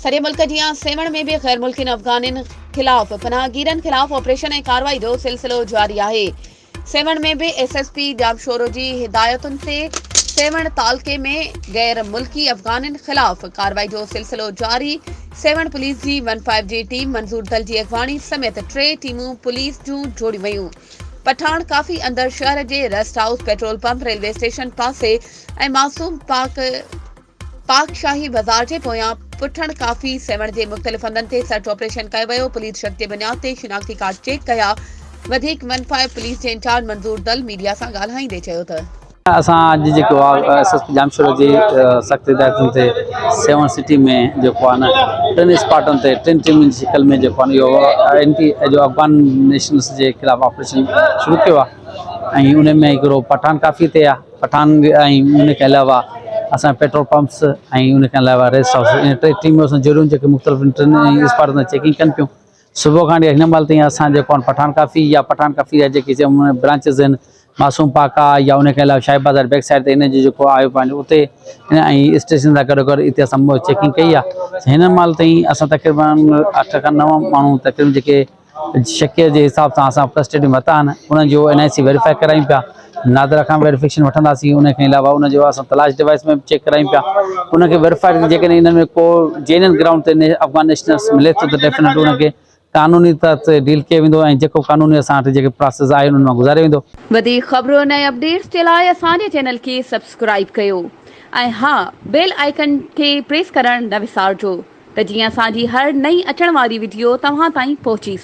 سڄي ملڪ جيان سيوهڻ ۾ به غيرملڪين افغانين خلاف پناهگيرن خلاف آپريشن ۽ ڪارروائي جو سلسلو جاري آهي سيوهڻ ۾ به ايس ايس پي ڄامشورو جي هدايتن تي سيوهڻ تعلقي ۾ غير ملڪي افغانين خلاف ڪارروائي جو سلسلو جاري، سيوهڻ پوليس جي ون فائيو جي ٽيم منظور دل جي اڳواڻي سميت ٽي ٽيمون پوليس جون جوڙيون ويون، پٺاڻ ڪافي اندر شهر جي rest house, petrol pump, railway station پاسي ۽ معصوم پاڪ. پاڪ شاهي بازار جي پويان پٺڻ ڪافي سيوهڻ جي مختلف هنڌن تي سرچ آپريشن ڪيو ويو پوليس شڪ جي بنياد تي شناختي ڪارڊ چيڪ ڪيا وڌيڪ ون فائيو پوليس جي انچارج منظور دل ميڊيا سان ڳالهائيندي چيو ته اسان اڄ جيڪو آهي S S P Jamshoro جي سخت هدايتن تي سيون سٽي ۾ جيڪو آهي نه ٽن اسپاٽن تي ٽن ٽيمن جي شڪل ۾ جيڪو آهي اهو اينٽي جو افغان نيشنلس جي خلاف آپريشن شروع ڪيو آهي ۽ ان ۾ هڪڙو پٺاڻ ڪافي تي آهي پٺاڻ ۽ ان کان علاوه اسان پيٽرول پمپس ۽ ان کان علاوه ريسٽ هائوس ۽ ٽي ٽيمون اسان جوڙيون جيڪي مختلف ٽن ۽ اسپاٽن تي چيڪنگ ڪن پيون صبح کان وٺي هن مهل تائين اسان جيڪو آهن پٺاڻ ڪافي يا پٺاڻ ڪافي يا جيڪي چئبو برانچز آهن معصوم پاڪ آهي يا ان کان علاوه شاهي بازار بيڪ سائيڊ تي هن جو جيڪو آيو پنهنجو اتي هن ۽ اسٽيشن سان گڏو گڏ اتي اسان چيڪنگ ڪئي آهي هن مهل تائين اسان تقريبن اٺ کان نو ماڻهو تقريبن جيڪي شڪيل جي حساب سان اسان فرسٽ ايڊ متا آهن انهن جو اين آء سي ويريفائي ڪرايون پيا نادرا کان ويريفڪيشن وٺنداسين ان کان علاوه ان جو اسان تلاش ڊوائس ۾ چيڪ ڪرايون پيا ان کي ويريفائي جيڪڏهن انهن ۾ ڪو جينن گرائونڊ تي افغان نيشنلس ملي ٿو ته ڊيفينيٽ ان کي قانوني تحت ڊيل ڪيو ويندو ۽ جيڪو قانوني اسان وٽ جيڪي پراسيس آهي انهن مان گذاريو ويندو. وڌيڪ خبرن ۽ اپڊيٽس جي لاء اسان جي چينل کي سبسڪرائيب ڪيو ۽ ها بيل آئيڪن کي پريس ڪرڻ نه وسارجو ته جيئن اسان جي هر نئين اچڻ واري وڊيو توهان تائين پهچي سگهي.